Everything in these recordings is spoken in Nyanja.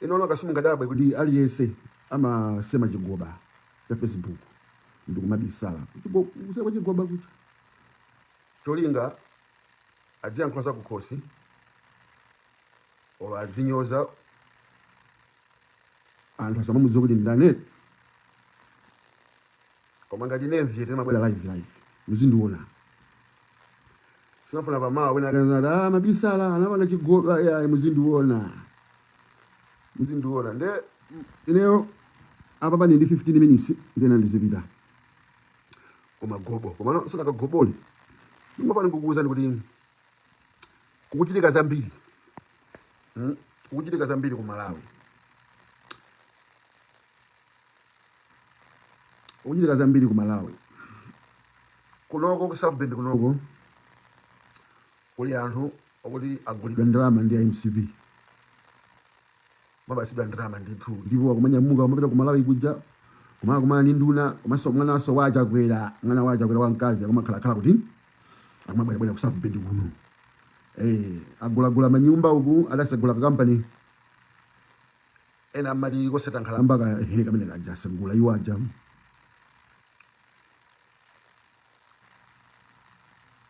Inuyo kapena simungadabwe kuti aliyense amasema chigoba cha Facebook ndikumabisala kuseri kwa chigoba kuja cholinga adziyankhula za kukhosi olo adzinyoza anthu asamamudziwa kuti ndani koma ngati ine mviyete ndimabwera live live muzindiona sinafuna pamawa wina akanati ah amabisala anapanga chigoba ayi muzindiona muzindiona nde mm, ineyo apapa ndili ndi 15 minutes ndiyenera ndizipita kumagobo komano sono kagobole ndimafuna ndikuuzeni kuti kukuchitika zambiri mm? kukuchitika zambiri ku malawi kuchitika zambiri ku Malawi kunoko ku South Bend kunoko kuli anthu okuti agulidwa ndalama ndi a MCP amapatsidwa ndalama ndithu ndipo akumanyamuka kumapita ku Malawi kuja kumakakumana ndi nduna komanso mwanaso wa Chakwera mwana wa Chakwera wamkazi akumakhalakhala kuti akumabwerabwera ku South Bend kuno eh agulagula manyumba uku adatsegula kampani ena amati koseta nkhalamba ka he kamene kaja atsegula iwo aja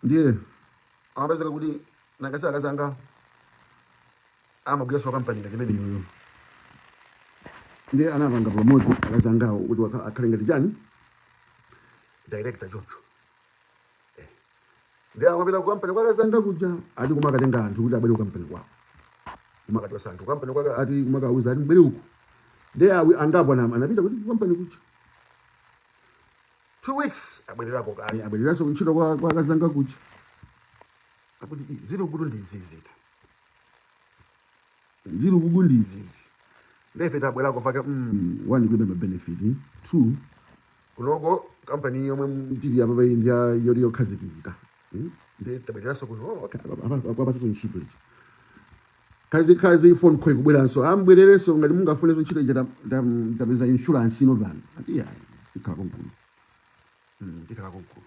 ndiye amapezeka kuti akazi akazi anga amagwiraso pa kampani ngati imene iyoyo ndiye anapanga promote akazi angawo kuti wakha- akhale ngati chani director choncho nde amapita ku kampani kwa akazanga kuja ati kumakatenga anthu kuti abwere ku kampani kwawo kumakachosa anthu kampani kwake ati kumakawauza ati mubwere uku ndiye angapo anam- anapita kuti ku kampani kuja two weeks abwererako kale abwereranso kuntchito kwa kwa akazanga kuja akuti "Ih, ziri kuno ndi izizitu zili kuno ndi izizi ndefe tabwerako faka mm, one kulibe ma benefit two kunoko kampani yomwe tili apayi ndi yoti yokhazikika Mm, nde tabwereranso kuno oh, okay, apa- apa- apa- apatsaso ntchito HR khazikhazi phone call kubweranso mubwererenso ngati mungafunenso ntchito iyi tapeza insurance inopano ati ayi tikhala konkuno Mm, tikhala konkuno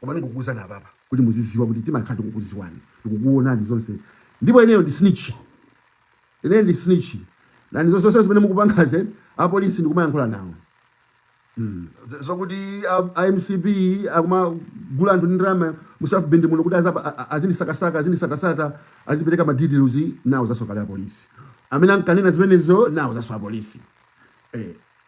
koma ndikukuuzani apapa kuti muziziwa kuti timakhala tikukuziwani tikukuonani zonse ndipo ineyo ndi snitch ineyo ndi snitch nanga zonse zonse zimene mukupangazo apolisi ndikumayankhula nawo hmm. zokuti a MCP akumagula anthu ndi ndalama mu South Bend muno kuti azindisakasaka azindisakasaka azipereka madetails ndauza kale apolisi amene ankanena zimenezo ndauzaso apolisi eh.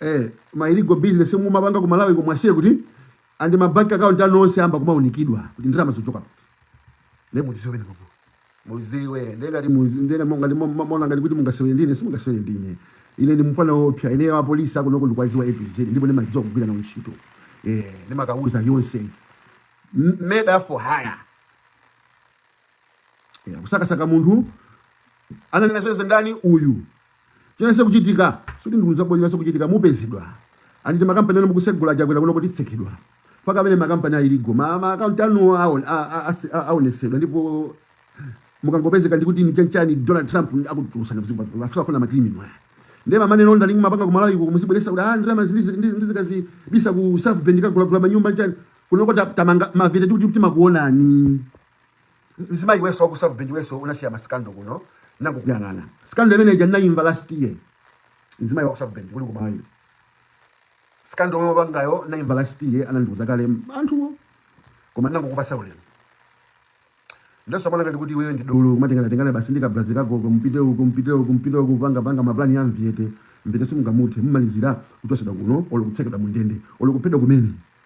Eh, ma illegal business mumapanga ku Malawi komwa siye kuti and ma bank account anu onse amba kumaunikidwa kuti ndalama zikuchoka kuti. Nde muziwe na babo. Muziwe ndengati muziwe ndenga monga ndi mumaona ngati kuti mungasewere ndi ine simungasewere ndi ine. Ine ndi mfana oopsya ine wa police akunoko ndikuwadziwa A to Z ndipo ndimadziwa kugwira nawo ntchito. Eh, ndimakauza zonse. M- Murder for hire. Ya, kusakasaka munthu ananena zonse ndani uyu chinasiya kuchitika sikuti ndikuuza bwezi nasiya kuchitika mupezedwa and makampani anu mukutsegula chakwera kuno akutsekedwa fake amene makampani a illegal ma ma account anu aon- a- a- asi- a- aonesedwa ndipo mukangopezeka ndikuti nchanchani donald trump akutulusa afika kuno makrimino aya ndiye ma money laundering mumapanga kumalawi uko muzibweretsa kuti ah ndalama ndizikazibitsa ku south bend kagulagula manyumba nchani kunoko ta- tamanga mavyete tikuti timakuonani mzimayi iwenso waku South Bend iwenso unasiya masikando kuno ndangokuyang'ana sikando imene ija ndinayimva last year mzimayi waku South Bend uli kumayo sikando omwe wapangayo ndinayimva last year anandiuza kale anthuwo koma ndangokupatsa ulemu nde usamaone ngati kuti iwe ndi dolo kumatengana tengana basi ndika brazi kako kumpite uko kumpite uko kumpite uko panga panga maplani a mvyete mvyete simungamuthe mmalizira kuchotsedwa kuno olo kutsekedwa mundende olo kuphedwa kumene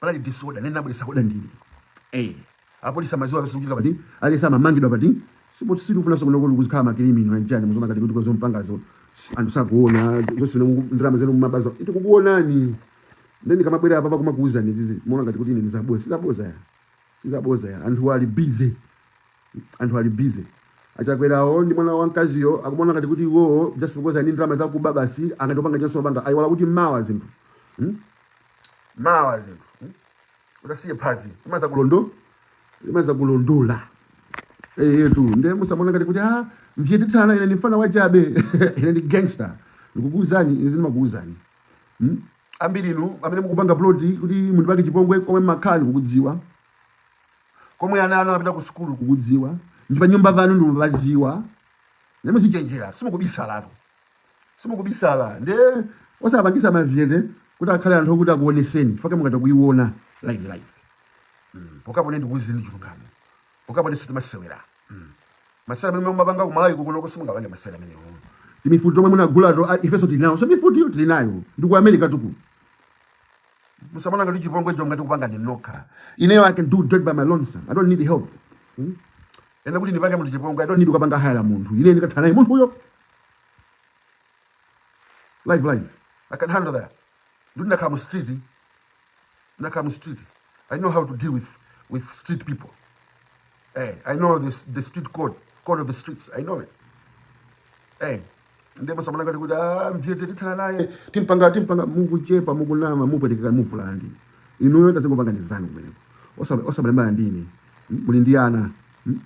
panali disorder ine nabweretsa order ndine eh apolisi amadziwa osungika pati alesa amamangidwa pati sikuti sitifuna zokuno kuti kuzikhala makirimino anjani muzaona ngati kuti kwa zomwe mupangazo anthu sakuona zonse zimene ndalama zenu mumabazo tikukuonani then ndikamabwera apa kumakuuzani izi muona ngati kuti ine ndi zabodza si zabodza ya si zabodza ya anthu ali busy anthu ali busy achakwerawo ndi mwana wamkaziyo akumona ngati kuti iwo just because ali ndi ndalama zakuba basi angathe kupanga chonse kupanga ayiwala kuti mawa zinthu hmm? mawa zinthu mm? usasiye phazi imadzakulondo imadzakulondola eh tu nde musamaone ngati kuti ah mvyete tana ine ndi mfana wachabe ine ndi gangster ndikukuuzani ine ndimakuuzani mm? ambiri inu amene mukupanga ploti kuti mundipange chipongwe komwe mumakhala ndikukudziwa komwe ana anu apita ku sukulu ndikukudziwa ndi pa nyumba panu ndimapadziwa nde muzichenjera simukubisalatu simukubisala nde osapangitsa mavyete kuti akhale anthu okuti akuonetseni fake mukadzaiona live live mm. pokhapo ndikuuzeni chilungamo pokhapo ndi sitimasewera mm. masewera amene mumapanga ku Malawi kunoko simungapange masewera amenewo ndi mifuti yomwe munagula tu ah, ifenso tili nayonso mifutiyo tili nayo ndi ku America tu kuno musamaone ngati chipongwecho mungathe kupanga ndi nokha ineyo I can do that by my lonesome I don't need help mm. ine kuti ndipange munthu chipongwe I don't need kupanga hire munthu ine ndikathana munthu uyo live live i can handle that ndo ndakhala mu street ndakhala mu street i know how to deal with with street people hey, eh, i know this, the street code code of the streets i know it hey, eh, nde osamaona ngati kuti ah, mvyete tithana naye timpanga timpanga mukuchepa mukunama mupwetekeka muvulala ndi inuyo tazingopangani zanu kumeneko osamalimbana ndi ine muli ndi ana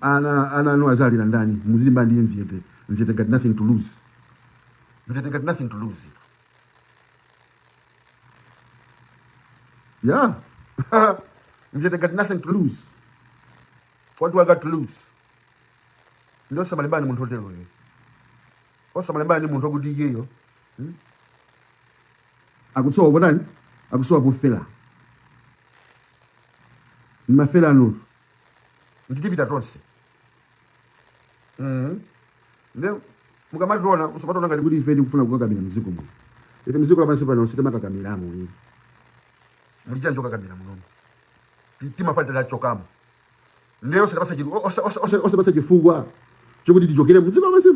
ana ana anu azalira ndani muzilimba ndi mvyete mvyete got nothing to lose mvyete got nothing to lose yeah mvyete got nothing to lose what do i got to lose ndiye osamalimbana ndi munthu otero ye osamalimbana ndi munthu okuti iyeyo hmm? akusowa potani akusowa pofela ni mafela anutu Nde tipita tonse. Mm. Nde mukamationa musamatione ngati kuti ife tikufuna kukakamira mziko muno. Ife mziko lapansi pano sitimakakamiramo inu. Muli chani chokakamira munomo. Timafuna titachokamo. Nde osatipasa chifu osa osa osa osatipasa chifukwa chokuti tichokere mziko lapansi.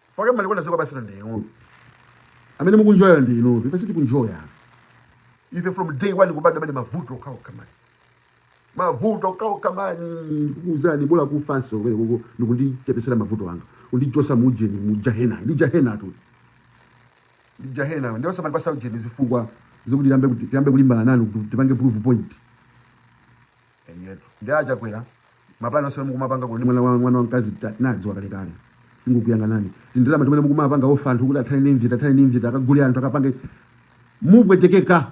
Chifukwa amalikonda ziko lapansi ndi inu. Amene mukunjoya ndi inu. Ife sitikunjoya. Ife from day one kubadwa anali mavuto okhaokha mani. mavuto okhaokha mani ndikukuuzani bola kufanso kwene kuko ndikundichepesera mavuto anga kundichosa mu ujeni mu jahena ndi jahena tu ndi jahena ndiye osamandipasa ujeni zifukwa zokuti tiyambe kuti- tiyambe kulimbana nanu kuti tipange prove point eyetu ndi acha kwera mapulani onse mukumapanga kuti mwana wa mwana wamkazi ndinadziwa kalekale ndingokuyang'anani ndalama zimene mukumapanga offer anthu kuti athane ndi mvyete athane ndi mvyete akagule anthu akapange mupwetekeka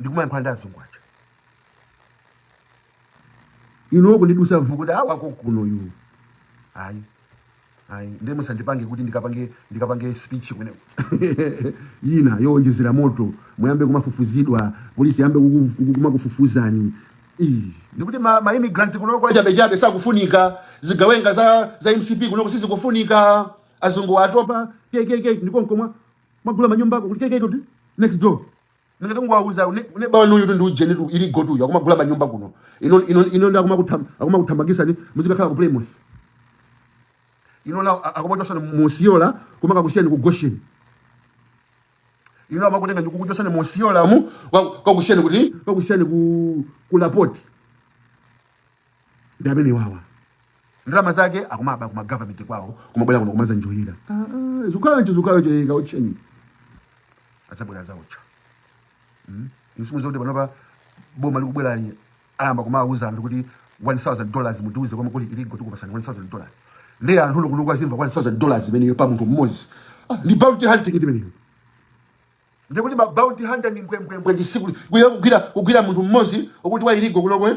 ndikumayankhula ndi azungu aja inu kundidusa mvu kuti awa kokuno yu ayi ayi ndiye musandipange kuti ndikapange ndikapange speech kwene ina yowonjezera moto muyambe kumafufuzidwa polisi yambe kumakufufuzani ndikuti ma, ma immigrant kunoko achabechabe sakufunika zigawenga za, za mcp kunoko sizikufunika azungu atopa kkk ndi konko mumagula manyumbako kuti kkk kuti next door Ngati ndingowauza ne neba wanuyutu ndi ujenitu illegal tu akumagula manyumba kuno. Inu inu inu nde akumakutham akumakuthamangisani muzikakhala ku Plymouth. Inu nde akumakuchosani mu Osceola kumakakusiyani ku Goshen. Inu amakutengani kukuchosani mu Osceola mu kuka kukakusiyani kuti kukakusiyani ku ku LaPorte. ndi amene wawa ndalama zake akumaba ku ma government kwawo kumabwera kuno kumazanjoyera ah, ah, zukhala icho zukhala icho yeka uchenyi adzabwera zaocha hmm? musamuuze kuti panopa boma likubwerali ayamba kumawuza anthu kuti 1000 dollars mutiuze komwe kuli iligo tikupatsani 1000 dollars ndiye anthu inu kunoko azimva 1000 dollars imeneyo pa munthu mmodzi ah, ndi bounty hunting imeneyo ndiye kuti ma bounty hunter ndi mbwembwembwe ndi tsiku kugwira kugwira munthu mmodzi okuti wa iligo kunokwe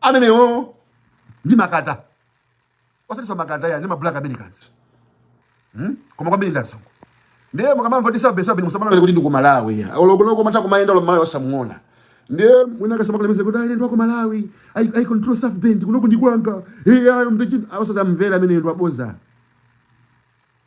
amenewo ndi makata osatinso makata iyayi ndi ma black americans hmm? koma kwambiri ndi azungu ndiye mukamamva za south bend musamaone kuti ndi ku malawi ya olo koloko umatha kumayenda olo mmalawi osamuona ndiye mwina akatsimikize kuti ayi ndi wa ku malawi i, I control south bend kunoko ndi kwanga hey, I am the king. Osazamvera ameneyo ndi waboza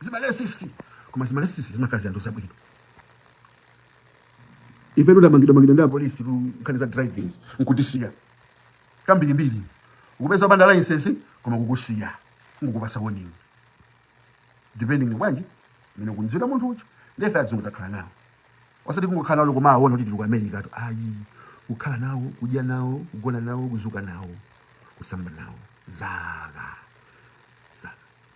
zima racist koma zima racist zimakhala zianthu zabwino ife tidamangidwa mangidwa ndi apolisi ku nkhani za driving nkutisiya kambirimbiri kukupeza opanda license koma kukusiya kungukupasa warning depending bwanji mmene ukumuuzira munthu nde ife azungu takhala nawo osati kungokhala nawo okumawaona kuti tili ku america tu ayi kukhala nawo kudya nawo kugona nawo kuzuka nawo kusamba nawo zaka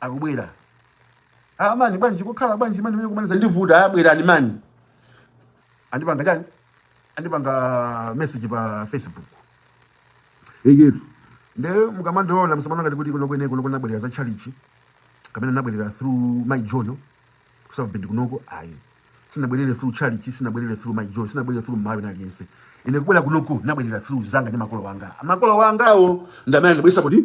akubwera ah mani bwanji kukhala bwanji mani mmene ankumazandivuta ah bwerani mani andipanga chani andipanga message pa facebook eyetu nde mukamandiona musamaone ngati kuti kunoko ine kunoko nabwerera za chalichi kapena nabwerera through mayi joyo ku south bend kunoko ayi sinabwerere through chalichi sinabwerere through mayi joyo sinabwerere through malawian aliyense ine kubwera kunoko nabwerera through zanga ndi makolo anga makolo angawo ndamene anandibweretsa kuti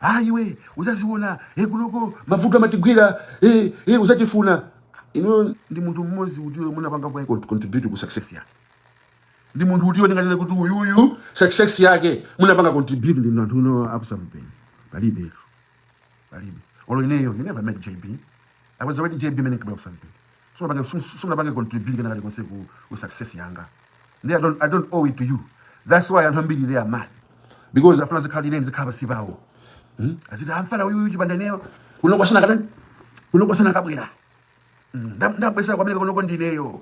a iwe uzaziona e kunoko mavuto akamakugwira e, e uzatifuna inu ndi munthu mmodzi utiyo munapangako contribute ku success yake ndi munthu utiyo munganene kuti uyuyu success yake munapanga contribute inu anthu inu aku south bend palibe palibe olo ineyo you never met jb i was already jb mmene nkabwera ku south bend sunapange contribute kena kalikonse ku, ku success yanga ndi I don't, I don't owe it to you that's why anthu ambiri they are mad because amafuna nzikhala ine nzikhala pansi pawo hmm? aziti amfana uyu uyu chipanda kuti ineyo kunoko sanakatani kunoko sanakabwera hmm, ndabweretsako amene kunoko ndineyo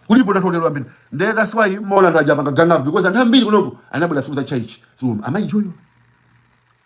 kulipo ndatolera ambiri nde that's why mwaona ndachapanga changa because anthu ambiri kunoko anabwera through za church through amayi joyo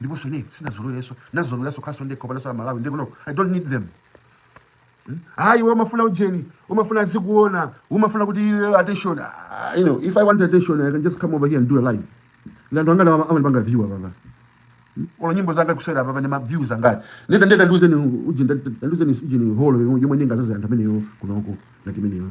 ndiponso ine sinazolowerenso nazolowerenso kukhalanso ndekha palibenso mmalawi ndipo no i don't need them hmm? hayi hmm? wamafuna ujeni umafuna tizikuona umafuna kuti iwe attention ah, you know if i want attention i can just come over here and do a live ndi anthu angati amandipanga view apa apa hmm? onani nyimbo zanga kuseri apa onani ma views anga nde nde ndiuzeni ujeni ndiuzeni ujeni holo yomwe ingadzadze anthu ameneyo kunoko ngati meneyo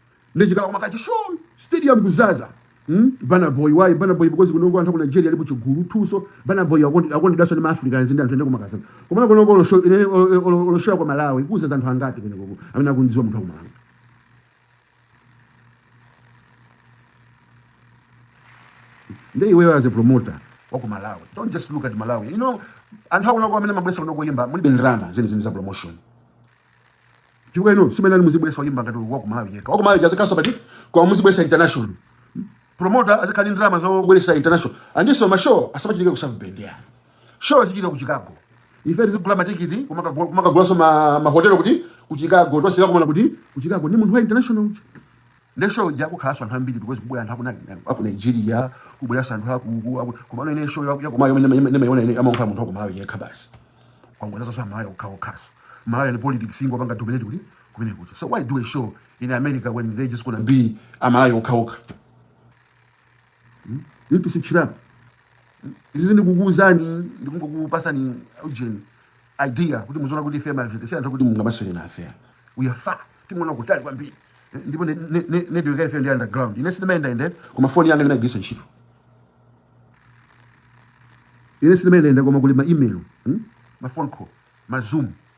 nde chikhala kumakha chishow stadium kuzaza Hmm? Burna Boy why Burna Boy because kunoko anthu aku Nigeria alipo chigulu tuso Burna Boy akondi akondedwaso ni Africans ndi anthu ende kumakazaza koma kunoko lo show ine lo show kwa Malawi kuzaza anthu angati kunoko amene akumziwa munthu wa ku Malawi nde iwe as a promoter wa ku Malawi don't just look at Malawi you know anthu akunoko amene mumabwesa kunoko oyimba mulibe ndrama zeni zeni za promotion Chifukwa inu simenani muzibwesa oyimba ngati wa ku Malawi yekha. Wa ku Malawi azikhaso part koma muzibwesa international. Promoter azikhala ni ndalama zobwesa international. Andiso ma show asamachitike ku South Bend yayi. Show izichitika ku Chicago. Ife tizigula matikiti kumaka kumakagulaso ma, ma hotel kuti ku Chicago tonse tikakumana kuti ku Chicago ni munthu wa international. Nde show ija kukhalanso anthu ambiri because kubwera anthu akuna aku Nigeria, kubweranso anthu akuku aku komano ine show yaku yaku Malawi imene imene ndimaiona ine amakhala munthu waku Malawi yekha basi. Kungozazaso aMalawi okha okhaso. Malawi and politics ingopanga dominate kuti kumeneko. So why do a show in America when they just gonna be aMalawi okha okha? hmm? you need to switch it up izizi ndikukuuzani ndikungokupasani ujeni idea kuti muziona kuti fair marriage si anthu kuti mungamasewere nafe we are far timaona kutali kwambiri eh, ndipo network ya ife ndi underground ine sindimayenda ende koma phone yanga ndimagwirisa ntchito ine sindimayenda ende koma kuli ma email hmm? ma phone call ma zoom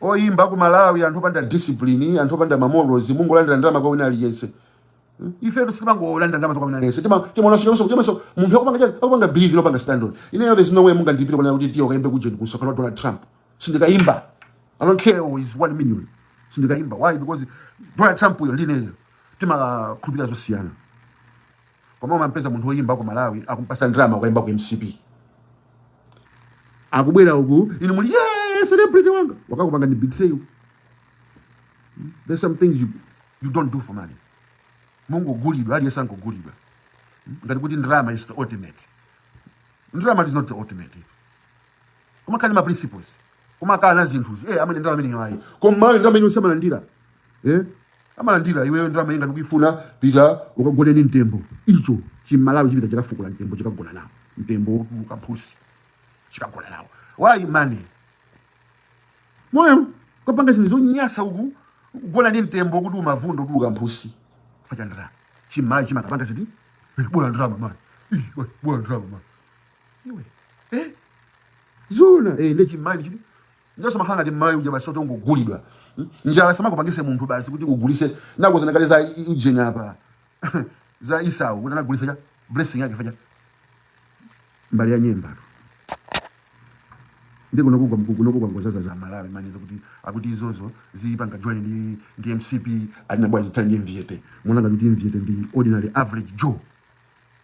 Oyimba aku Malawi anthu opanda discipline, anthu opanda ma morals, mungolandira ndalama kwa wina aliyense. Hmm? Ifetu sitimangolandira ndalama kwa wina aliyense. Tima timaona sio so kama so munthu akupanga chani? Akupanga believe nkupanga stand on. Ineyo there's no way mungandilipire kunena kuti tiye kaimbe kujeni kumsonkhano wa Donald Trump. Sindikaimba. I don't care who is 1 million. Sindikaimba. Why? Because Donald Trump-yo ndi ineyo timakhulupira zosiyana. koma umampeza munthu oyimba wa ku malawi akumpasa ndalama kukayimba ku mcp akubwera uku inu muli yeah, celebrity wanga wakakupangani betray you hmm? there's some things you, you don't do for money mungogulidwa aliyense angogulidwa hmm? ngati kuti ndalama is the ultimate ndalama is not the ultimate kumakhala ni ma principles kumakhala na zinthuzi eh amene ndrama imeneyi ayi koma aMalawi ndrama zonse amalandira eh amalandira iweyo ndrama iyi ngati ukuifuna pita ukagone ni mtembo icho chimalawi chipita chikafukula mtembo chikagona nawo mtembo wa mphutsi chikagona nawo why money moyo okapanga zinthu zonyasa uku kugona ndi mtembo kuti unavunda kuti uli ni mphutsi chifukwa cha ndrama chimalawi chimakapanga chiti bola ndrama mani bola ndrama mani iwe eh zoona eh nde chimani chiti ndosamakhala ngati mayi uja masoto ngogulidwa Hmm? njala isamakupangise munthu basi kuti ugulise nakuuzani kale za i- ujeni apa za Esau kuti anagulisa cha blessing yake fukwa cha mbale ya nyemba ndi kuno kugwa mkuku kuno kugwa ngozaza za malawi manizo kuti akuti izozo zipanga join ndi ndi mcp atina bwa zitali ndi mviyete muona ngati kuti mviyete ndi ordinary average joe